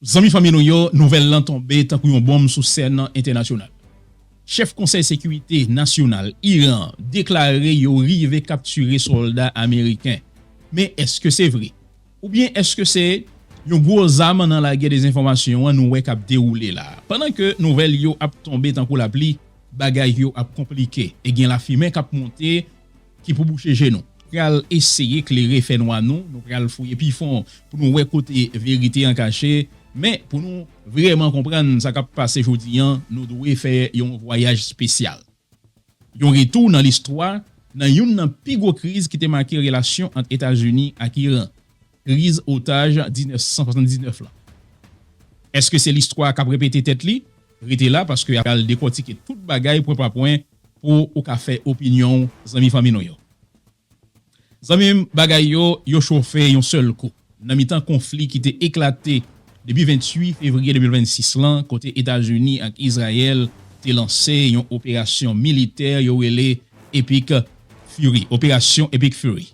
Zanmi fanmi nou yo, nouvèl lan tonbe tankou yon bonm sou sèn entènasyonal. Chèf Konsèy Sekirite Nasyonal Iran an deklare yo rive kaptire sòlda ameriken. Men èske se vre? Oubyen èske se yon gwo zam nan lagè dezenfòmasyon an nou wè k ap dewoule la a? Pandan ke nouvèl yo ap tonbe tankou lapli, bagay yo ap konplike e gen lafimen k ap monte. Ki pou bouche je nou. Pral eseye klere fènwa nou. Nou pral fouye pi fon pou nou wè kote verite an kache. Men, pou nou vrèman konprann sa k ap pase jodi an, nou dwe fè yon vwayaj spesyal. Yon retou nan listwa, nan youn nan pi gwo kriz ki te make relasyon ant Etazini ak Iran, kriz otaj 1979 lan. Èske se listwa k ap repete tèt li? Rete la, paske apre al dekòtike tout bagay pwen pa pwen, pou ou ka fè opinyon w zanmi fanmi nou yo. Zanmi m bagay yo yo chofe yon sèl kou nan mitan konfli ki te eklate depi 28 fevriye 2026 lan kote Etazini ak Izrayèl te lanse yon operasyon militè yo rele Epic Fury, Operasyon Epik Furi.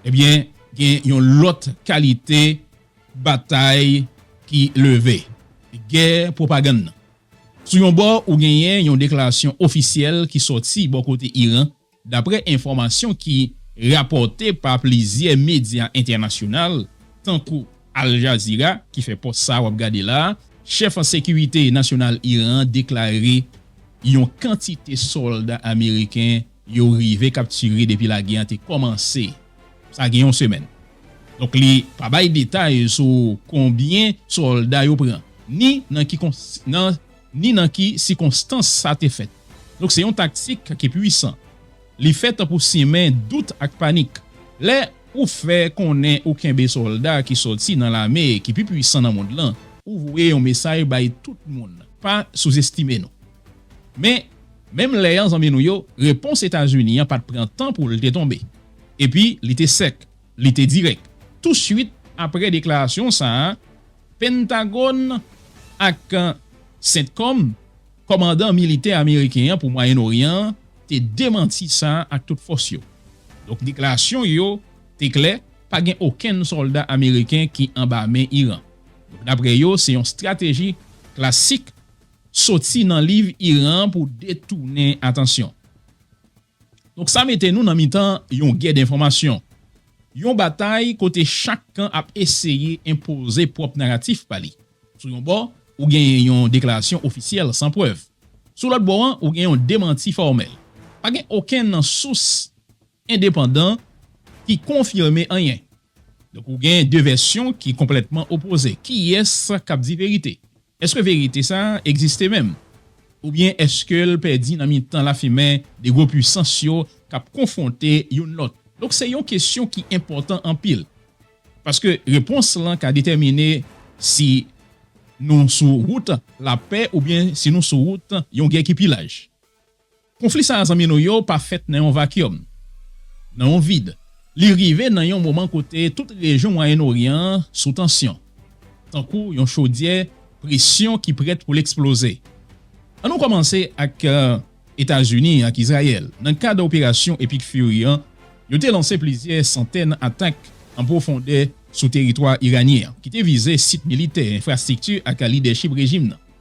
Ebyen gen yon lòt kalite batay ki leve, gè pwopagann nan. Sou yon bò ou genyen yon deklarasyon ofisyèl ki sòti bò kote Iran daprè enfòmasyon ki rapòte pa plizyè medya entènasyonal tankou Al Jazeera ki fè pòs sa wap gade la a, chèf sekirite nasyonal Iran an deklare yon kantite sòlda ameriken Yo rive kaptire depi lagè an te kòmanse, sa gen yon semèn. Donk li pa bay detay sou konbyen sòlda yo pran, ni nan ki nan ni nan ki sikonstans sa te fèt. Donk se yon taktik ki pwisan. Li fèt pou simen dout ak panik. Lè ou fè konnen ou kenbe sòlda ki sòti nan lame ki pi pwisan nan mond lan, ou voye yon mesay bay tout moun, pa souzestime nou. Men, menm lè an zanmi nou yo, repons Etazini an pa t pran tan pou l te tonbe. Epi, li te sèk, li te dirèk. Tousuit apre deklarasyon sa a, Pentagòn ak Centcom, kòmandan militè ameriken an pou Mwayen Oryan an, te demanti sa ak tout fòs yo. Donk, deklarasyon yo te klè, pa gen okenn sòlda ameriken ki anba men Iran. Donk, daprè yo, se yon estrateji klasik soti nan liv Iran an pou detounen atansyon. Donk sa mete nou nan mitan yon gè denfòmasyon, yon batay kote chak kan ap eseye enpoze pwòp naratif pa li. Sou yon bò, ou genyen yon deklarasyon ofisyèl san prèv. Sou lòt bò an, ou gen yon demanti fòmèl. Pa gen okenn nan sous endepandan ki konfime anyen. Donk ou gen de vèsyon ki konplètman opoze. Kiyès k ap di verite? Èske verite sa a egziste menm? Oubyen èske l pèdi nan mitan lafimen de gwo puisans yo k ap konfwonte youn lòt? Donk se yon kesyon ki enpòtan anpil, paske repons lan ka detèmine si nou sou wout lapè oubyen si nou sou wout yon gè ki pi laj. Konfli sa a zanmi nou yo pa fèt nan yon vakyòm, nan yon vid. Li rive nan yon moman kote tout rejyon Mwayen Oryan an sou tansyon, tankou yon chodyè presyon ki prèt pou l eksploze. An nou kòmanse ak Etazini ak Izrayèl. Nan kad operasyon Epic Fury an, yo te lanse plizyè santèn atak an pwofondè sou teritwa iranyen an, ki te vize sit militè, enfrastrikti ak lidèchip rejim nan.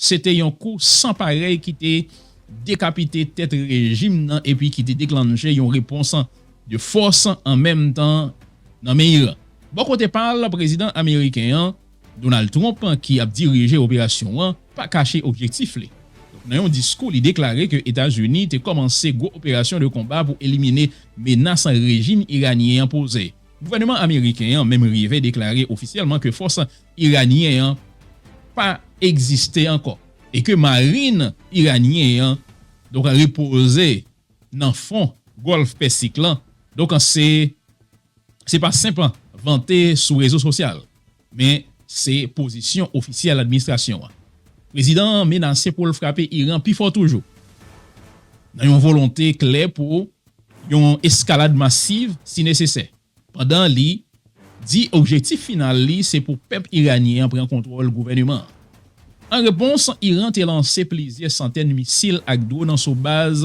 Se te yon kou san parèy ki te dekapite tèt rejim nan epi ki te deklannche yon repons de fòs an menm tan nan men Iran. Bò kote pa l, prezidan ameriken an, Donald Trump, ki ap dirije operasyon an, pa kache objektif li. Donk nan yon diskou li deklare ke Etazini te kòmanse gwo operasyon de konba pou elimine menas rejim iranyen an poze. Gouvèneman ameriken an menm rive deklare ofisyèlman ke fòs iranyen an pa egziste ankò e ke marin iranyen an donk repoze nan fon Gòlf Pèsik lan donk an se se pa senp vante sou rezo sosyal men se pozisyon ofisyèl administrasyon an. Prezidan an menase pou l frape Iran pi fò toujou nan yon volonte klè pou yon eskalad masiv si nesesè. pandan li di objektif final li se pou pèp iranyen an pran kontwòl gouvèneman an. An repons, Iran te lanse plizyè santèn misil ak dwon sou baz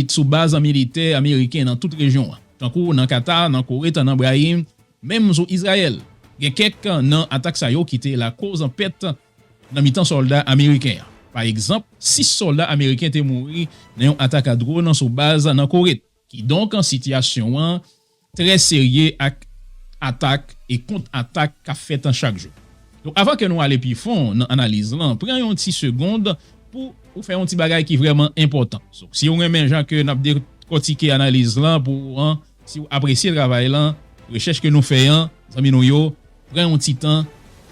sou baz militè ameriken nan tout rejyon an, tankou nan Kata, nan Kowet, nan Brahim, menm sou Izrayèl. Gen kèk nan atak sa yo ki te lakoz pèt nan mitan sòlda ameriken. Pa egzanp, 6 sòlda ameriken te mouri nan yon atak a dwon sou baz nan Kowet. Kidonk, sitiyasyon an trè serye ak atak e kont atak k ap fèt chak jou. Donk avan ke nou ale pi fon nan analiz lan, pran yon ti segond pou ou fè yon ti bagay ki vrèman enpòtan. Donk si ou renmen jan ke n ap dekòtike analiz lan pou ou an, si ou apresye travay lan, rechèch ke nou fè an, zanmi nou yo, pran yon ti tan,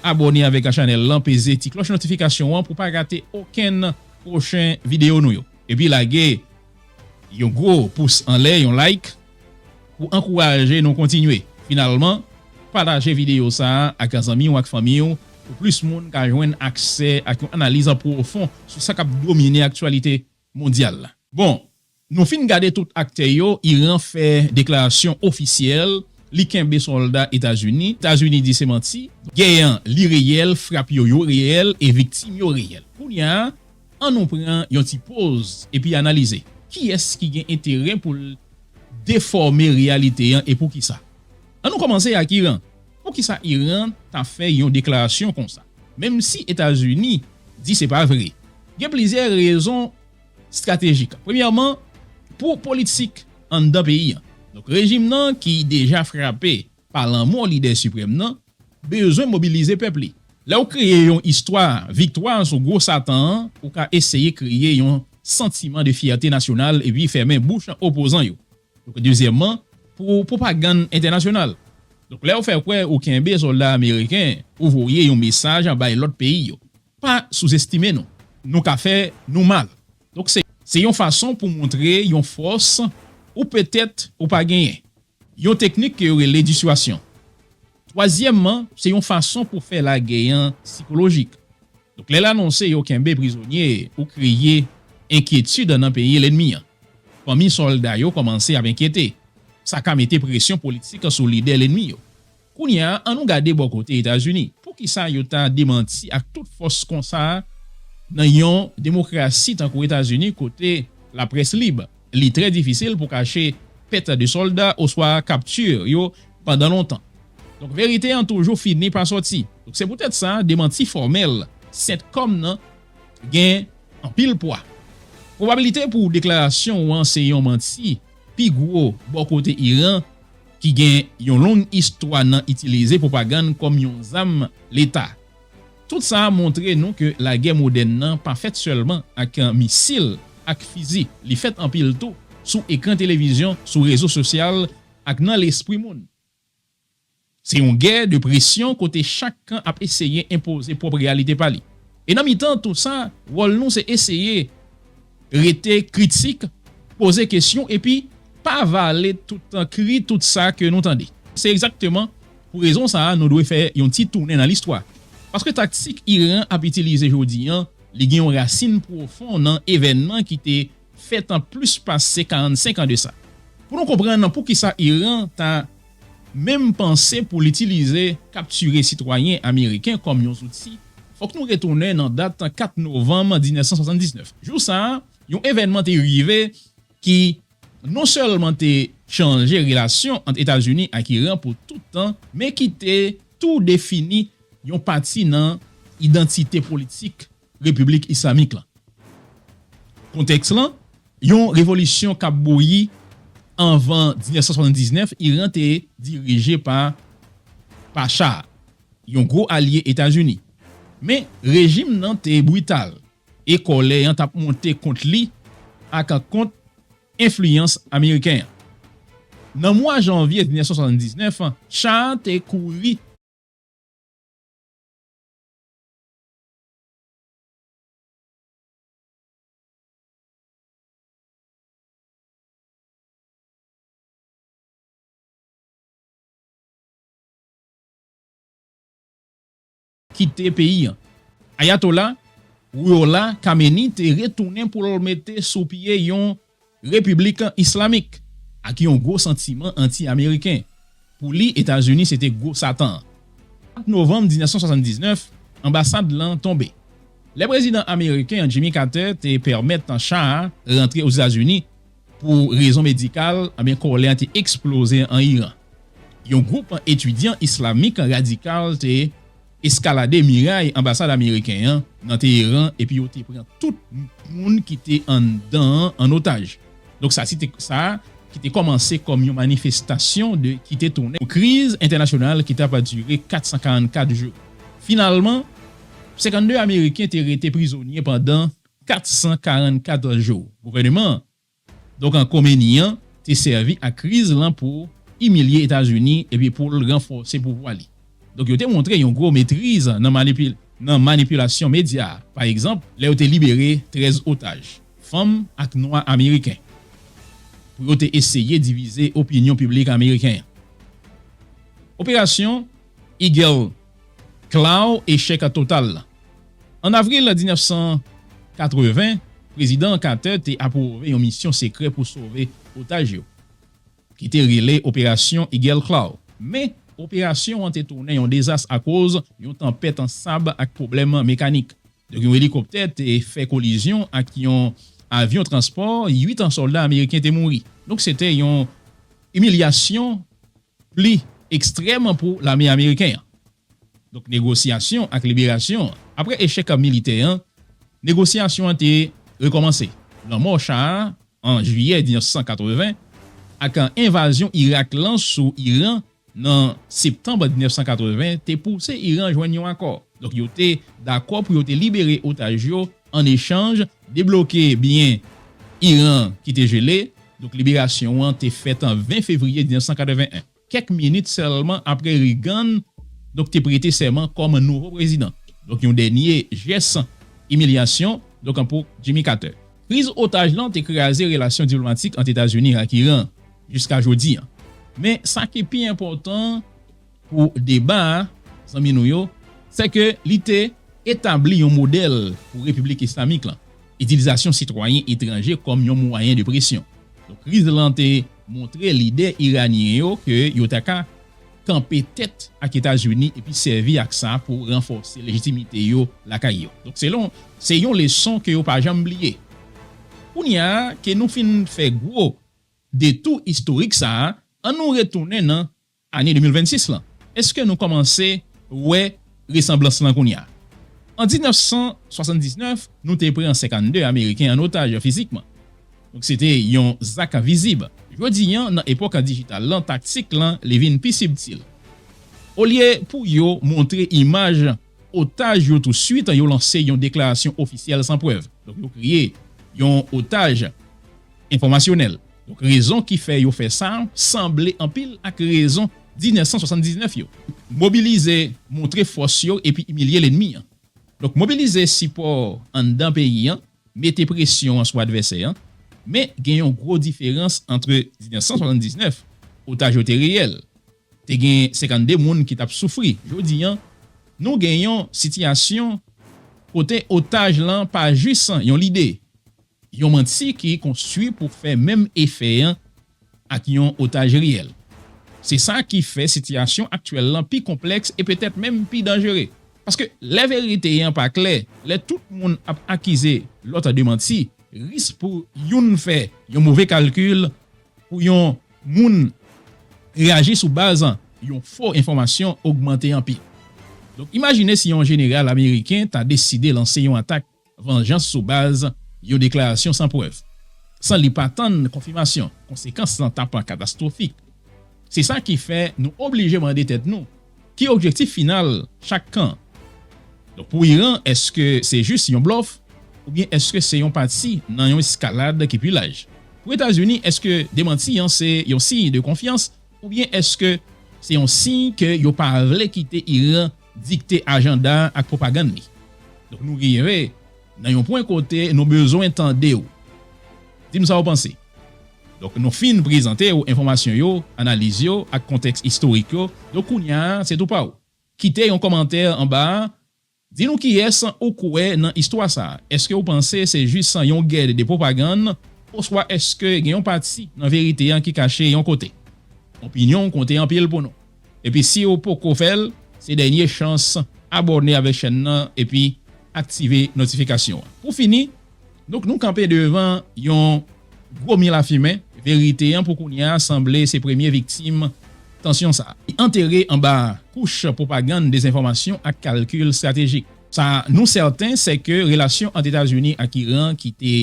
abòne avèk chanèl lan, peze ti klòch notifikasyon an pou pa rate okenn pwochen videyo nou yo. Epi lage. Yon gwo pous anlè, yon like, pou ankouraje nou kontinye. Finalman, pataje videyo sa a ak zanmi w ak fanmi w pou plis moun ka jwenn aksè ak yon analiz an pwofon sou sa k ap domine aktyalite mondyal la. Bon, nou fin gade tout aktè yo, Iran fè deklarasyon ofisyèl li kenbe sòlda Etazini, Etazini di se manti. Gè an li reyèl, frap yo yo reyèl e viktim yo reyèl. Kounya An nou pran yon ti poz epi analize, kiyès ki gen enterè pou l defòme reyalite an e poukisa? An nou kòmanse ak Iran, poukisa Iran ta fè yon deklarasyon konsa, menm si Etazini di se pa vre? Gen plizyè rezon stratejik. Premyèman, pou politik anndan peyi an. Donk rejim nan ki deja frape pa lanmò Lidè Siprèm nan, bezwen mobilize pèp li. Lè ou kreye yon istwa viktwa sou gwo Satan an, ou ka eseye kreye yon santiman de fyète nasyonal epi fèmen bouch opozan yo. Donk, dezyèmman, pou pwopagann entènasyonal. Donk, lè ou fè kwè ou kenbe sòlda ameriken, ou voye yon mesaj bay lòt peyi yo, Pa souzestime nou. Nou ka fè nou mal. Donk, se yon fason pou montre yon fòs ou petèt ou pa genyen. Yon teknik ke yo rele diswasyon. Twazyèmman, se yon fason pou fè lagè an sikolojik. Donk lè l anonse yo kenbe prizonye ou kreye enkyetid nan peyi lènmi an. Fanmi sòlda yo kòmanse ap enkyete. Sa ka mete presyon politik sou lidè lènmi yo. Kounye a, annou gade bò kote Etazini. Poukisa yo ta demanti ak tout fòs konsa nan yon demokrasi tankou Etazini kote laprès lib? Li trè difisil pou kache pèt de sòlda oswa kapti yo pandan lontan. Donk verite an toujou fini pa sòti. Donk se poutèt sa demanti fòmèl Centcom nan gen anpil pwa. Pwobabilite pou deklarasyon ou an se yon manti pi gwo bò kote Iran, ki gen yon long istwa nan itilize pwopagann kòm yon zam leta. Tout sa a montre nou ke lagè modèn nan pa fèt sèlman ak misil ak fizi, li fèt anpil tou sou ekran televizyon, sou rezo sosyal ak nan lespri moun. Se yon gè de presyon kote chak kan ap eseye enpoze pwòp reyalite pa li. E nan mitan tou sa, wòl nou se eseye rete kritik, poze kesyon epi pa vale toutan kri tout sa ke nou tande. Se egzakteman pou rezon sa a nou dwe fè yon ti tounen nan listwa. Paske taktik Iran ap itilize jodi an, li gen yon rasin pwofon nan evènman ki te fèt an plis pase 45 an de sa. Pou nou konprann poukisa Iran ta menm panse pou l itilize kaptire sitwayen ameriken kòm yon zouti, fòk nou retounen nan dat 4 novanm 1979. Jou sa, yon evènman te rive ki non sèlman te chanje relasyon ant Etazini ak Iran pou tout tan, men ki te tou defini yon pati nan idantite politik Repiblik Islamik lan. Kontèks lan, yon revolisyon k ap bouyi anvan 1979, Iran te dirije pa Pacha a, yon gwo alye Etazini. Men, rejim nan te brital e kòlè an t ap monte kont li ak kont enfliyans ameriken an. Nan mwa janvye 1979, Cha a te kouri. kite peyi an. Ayatollah Ruhollah Khamenei te retounen pou l mete sou pye yon Repiblik Islamik, ak yon gwo santiman anti-Ameriken. Pou li, Etazini se te gwo Satan an. 4 novanm 1979, anbasad lan tonbe. Lè prezidan ameriken Jimmy Carter te pèmèt cha a rantre Ozetazini pou rezon medikal, anben kòlè a te eksploze an Iran. Yon gwoup etidyan islamik radikal te eskalade miray anbasad ameriken an nan Teheran epi yo te pran tout moun ki te anndan an an otaj. Donk sa te sa ki te kòmanse kòm yon manifestasyon de ki te tounen yon kriz entènasyonal ki t ap dire 444 jou. Finalman, 52 ameriken te rete prizonye pandan 444 jou. Gouvèneman Donk ankò Meni an te sèvi ak kriz lan pou imilye Etazini epi pou l ranfòse pouvwa li. Donk yo te montre yon gwo metriz nan manipilasyon medya, pa egzanp lè yo te libere 13 otaj, fanm ak nwa ameriken, pou yo te eseye divize opinyon piblik ameriken an. Operasyon Eagle. Klaw echèk an total lan. An avril 1980, Prezidan Carter te apwouve yon misyon sekrè pou sove otaj yo, ki te rele Operasyon Eagle Claw. Men, operasyon an te tounen yon dezas akoz yon tanpèt an sab ak pwoblèm mekanik. Donk yon elikoptè te fè kolizyon ak yon avyon transpò, 8 an sòlda ameriken te mouri. Donk se te yon imilyasyon pli ekstrèm an pou lame ameriken an. Donk negosyasyon ak liberasyon an. Apre echèk militè an, negosyasyon an te rekòmanse. Lanmò Shah a an jiyè 1980 ak envazyon Irak lan sou Iran nan septanm 1980 te pouse Iran jwenn yon akò. Donk yo te dakò pou yo te libere otaj yo an echanj Debloke biyè Iran ki te jele. Donk liberasyon an te fèt an 20 fevriye 1981, kèk minit sèlman apre Reagan donk te prete sèman kòm nouvo prezidan, donk yon dènye jès imilyasyon donk an pou Jimmy Carter. Kriz otaj lan te kraze relasyon diplomatik ant Etazini ak Iran jiska jodi an. Men sa ki pi enpòtan. Pou deba a, zanmi nou yo, sè ke li te etabli yon modèl pou Repiblik Islamik lan, itilizasyon sitwayen etranje kòm yon mwayen de presyon. Donk kriz lan te montre lidè iranyen yo ke yo ta ka kanpe tèt ak Etazini epi sèvi ak sa pou ranfòse lejitimite yo lakay yo. Donk se yon se yon leson ke yo pa janm bliye. Kounye a ke nou fin fè gwo detou istorik sa a, an nou retounen nan Ane 2026 lan, èske nou kòmanse wè resanblans lan kounye a? An 1979, nou te pran 52 Ameriken an otaj fizikman. Donk se te yon zak vizib. Jodi an, nan epòk dijital lan, taktik lan li vin pi sibtil. Olye pou yo montre imaj. otaj yo tou suit yo lanse yon deklarasyon ofisyèl san prèv, donk yo kreye yon otaj enfòmasyonèl, donk rezon ki fè yo fè sa sanble anpil ak rezon 1979 yo. Mobilize, montre fòs yo epi imilye lennmi an. Donk mobilize sipò anndan peyi an, mete presyon sou advèsè an, men gen yon gwo diferans antre 1979, otaj yo te reyèl, Te gen 52 moun ki t ap soufri. Jodi an, nou gen yon sitiyasyon kote otaj lan pa jis yon lide, yon manti ki konstwi pou fè menm efè an ak yon otaj reyèl. Se sa ki fè sitiyasyon aktyèl lan pi konplèks e petèt menm pi danjere. Paske lè verite an pa klè, lè tout moun ap akize lòt de manti, risk pou youn fè yon move kalkil Pou yon moun reyaji sou baz yon fo enfòmasyon ogmante anpil. Donk imajine si yon jeneral ameriken ta deside lanse yon atak vanjans sou baz yon deklarasyon san prèv, san li pa tann konfimasyon, konsekans lan t ap katastwofik. Se sa ki fè nou oblije mande tèt nou Ki objektif final chak kan? Donk pou Iran, èske se jis yon blòf oubyen èske se yon pati nan yon eskalad ki pi laj? Pou Etazini, èske demanti an se yon siy de konfyans oubyen èske se yon siy ke yo pa vle kite Iran dikte ajanda ak pwopagann li? Donk nou rive nan yon pwen kote nou bezwen tande ou. Di m sa ou panse. Donk nou fin prezante ou enfòmasyon yo, analiz yo ak kontèks istorik yo, donk kounya se tou pa ou. Kite yon kòmantè anba a, di nou kiyès ou kwè nan istwa sa, èske ou panse se jis yon gè de pwopagann oswa èske gen yon pati nan verite an ki kache yon kote. Opinyon ou konte anpil pou nou. Epi si ou poko fè l, se dènye chans abòne avèk chèn nan epi aktive notifikasyon an. Pou fini, Donk nou kanpe devan yon gwo mi lafimen, verite an pou kounya sanble se premye viktim tansyon sa. Li antere anba kouch pwopagann dezenfòmasyon ak kalkil estratejik. Sa nou sèten se ke relasyon ant Etazini ak Iran ki te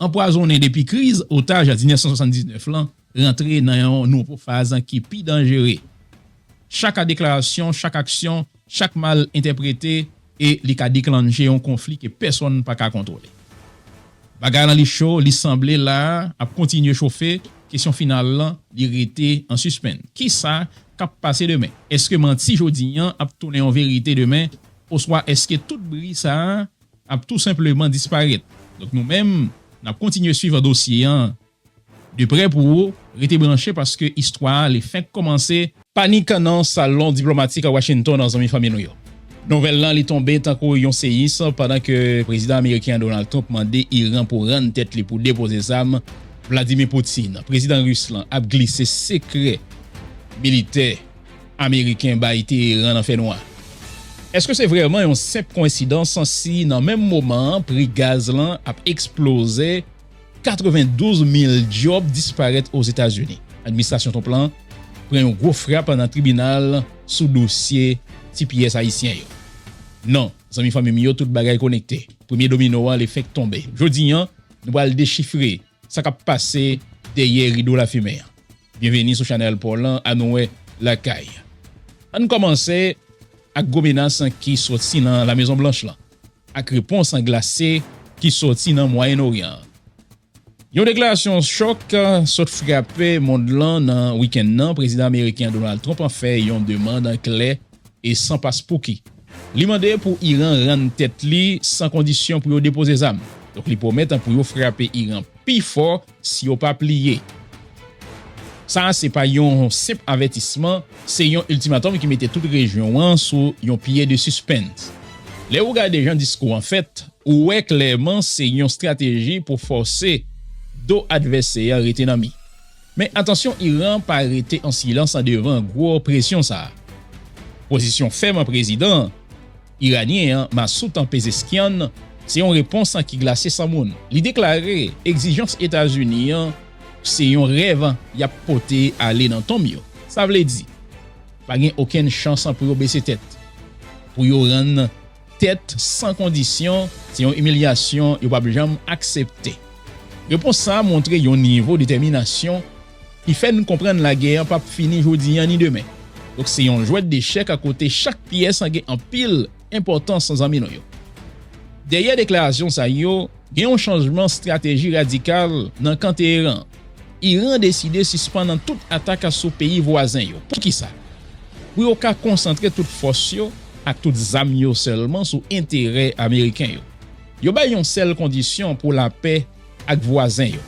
anpwazonnen depi kriz otaj 1979 lan, rantre nan yon nouvo faz ki pi danjere. Chak a deklarasyon, chak aksyon, chak mal entèprete e li ka deklannje yon konfli ke pèsonn pa ka kontwole. Bagay lan li cho, li sanble la ap kontinye chofe, kesyon final lan li rete an sispenn. Kisa kap pase demen? Eske manti jodi an ap tounen yon verite demen oswa eske tout bri sa ap tou senpleman disparèt? Donk nou menm nap kontinye swiv dosye an. De prè pou ou, rete branche paske istwa a li fenk komanse. Panik nan salon diplomatik Washington zanmi fanmi nou yo. Nouvèl lan li tonbe tankou yon seyis pandan ke Prezidan Ameriken an Donald Trump mande Iran pou rann tèt li pou depoze zam, Vladimir Putin, Prezidan Ris lan ap glise sekrè militè Ameriken bay Teheran nan fè nwa. Eske se vrèman yon senp koensidans si nan menm moman pri gaz lan ap eksploze? 92 mil djòb disparèt Ozetazini. Administrasyon Trump lan pran yon gwo frap nan tribinal sou dosye tps ayisyen yo. Non, zanmi fanmi m yo, tout bagay konekte. Premye domino an le fenk tonbe. Jodi an, nou pral dechifre sa k ap pase dèyè rido lafimen an. Byenveni sou chanèl paw lan Anouwe Lakay. Ann kòmanse ak gwo menas ki soti nan Lamezonblanch lan. ak repons an glase ki sòti nan Mwayen Oryan an. Yon deklarasyon chòk sot frape mond lan nan wikenn nan, Prezidan ameriken Donald Trump an fè yon demand klè e san paspouki. Li mande pou Iran rann tèt li san kondisyon pou yo depoze zam. Donk li pwomèt pou yo frape Iran pi fò Si yo pa pliye. Sa a se pa yon senp avètisman, se yon iltimatòm ki mete tout rejyon an sou yon pye de sispens. Lè ou gade jan diskou an fèt, ou wè klèman se yon strateji pou fòse do advèsè a rete nan mi. Men atansyon Iran pa rete an silans andevan gwo presyon sa a. Pozisyon fèm an prezidan an. Iranyen an, Masoud an Pezeshkian, se yon repons ki glase san moun. Li deklare egzijans Etazini an se yon rèv y ap pote ale nan tonm yo. Sa vle di, pa gen okenn chans pou yo bese tèt. Pou yo rann tèt san kondisyon, se yon imilyasyon yo p ap janm aksepte. Repons sa a montre yon nivo detèminasyon ki fè n konprann lagè an pap fini jodi an ni demen. Donk se yon jwèt dechèk a kote chak pyès an gen anpil enpòtans zanmi nou yo. Dèyè deklarasyon sa yo, gen yon chanjman strateji radikal nan kan Teheran. Iran deside sispann an tout atak sou peyi vwazen yo. Poukisa? Pou yo ka konsantre tout fòs yo ak tout zam yo sèlman sou enterè ameriken yo. Yo bay yon sèl kondisyon pou lapè ak vwazen yo.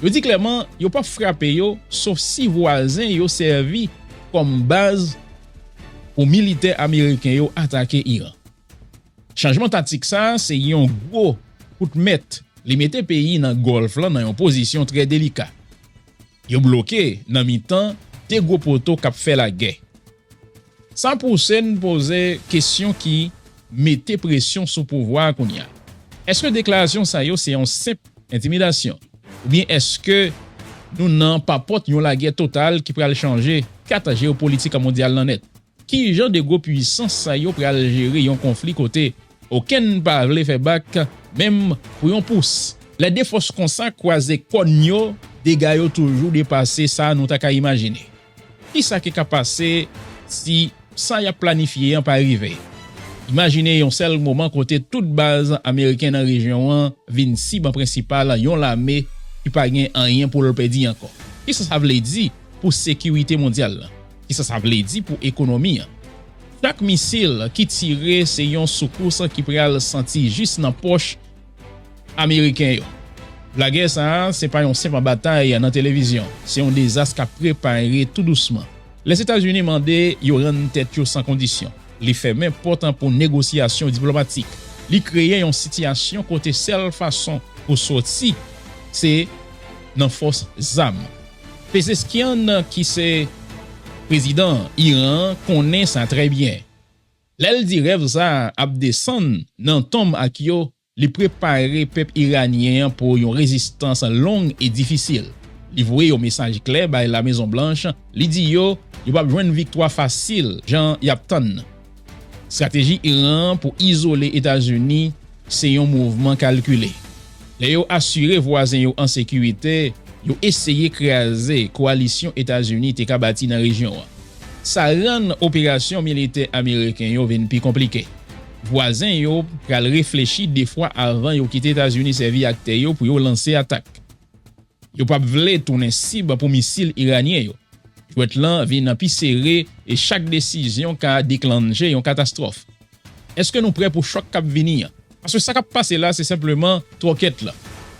Yo di klèman yo pap frape yo sof si vwazen yo sèvi kòm baz pou militè ameriken yo atake Iran. Chanjman taktik sa a se yon gwo kout mèt, li mete peyi nan Gòlf lan nan yon pozisyon trè delika. Yo bloke nan mitan 2 gwo poto k ap fè lagè. Sa pouse n poze kesyon ki mete presyon sou pouvwa a kounye a. Èske deklarasyon sa yo se yon senp entimidasyon? Oubyen èske nou nan papòt yon lagè total ki pral chanje kat jeyopolitik mondyal lan nèt? Ki jan 2 gwo puisans sa yo pral jere yon konfli kote okenn pa vle fè bak menm pou yon pous? Lè 2 fòs konsa kwaze kòn yo, dega yo toujou depase sa nou ta ka imajine. Ki sa ki ka pase si sa y ap planifye an pa rive? Imajine yon sèl moman kote tout baz ameriken nan rejyon an vin sib prensipal yon lame ki pa gen anyen pou l pèdi ankò. Ki sa sa vle di pou sekirite mondyal la? Ki sa sa vle di pou ekonomi an? Chak misil ki tire se yon soukous ki pral santi jis nan pòch Ameriken yo. Lagè sa a se pa yon senpl batay nan televizyon, se yon dezas k ap prepare tou dousman. Lèzetazini mande yo rann tèt yo san kondisyon. Li fèmen pòt an pou negosyasyon diplomatik. Li kreye yon sitiyasyon kote sèl fason pou soti se nan fòs zam. Pezeskian ki se prezidan Iran an konnen sa trè byen. Lè l di rèv sa a ap desann nan tonm ak yo, li prepare pèp iranyen an pou yon rezistans long e difisil. Li voye yon mesaj klè bay La Mezon Blanch, li di yo yo pap jwenn viktwa fasil jan y ap tann nan. Strateji Iran an pou izole Etazini Se yon mouvman kalkile. Lè yo asire vwazen yo an sekirite, yo eseye kraze koalisyon Etazini te ka bati nan rejyon an. Sa rann operasyon militè ameriken yo vin pi konplike. Vwazen yo pral reflechi de fwa avan yo kite Etazini sèvi ak tè yo pou yo lanse atak. Yo pap vle tounen sib pou misil iranyen yo. Jwèt lan vin pi sere e chak desizyon ka deklannje yon katastwòf. Eske nou prè pou chòk kap vini an? Paske sa kap pase la se senpleman twòkèt lan.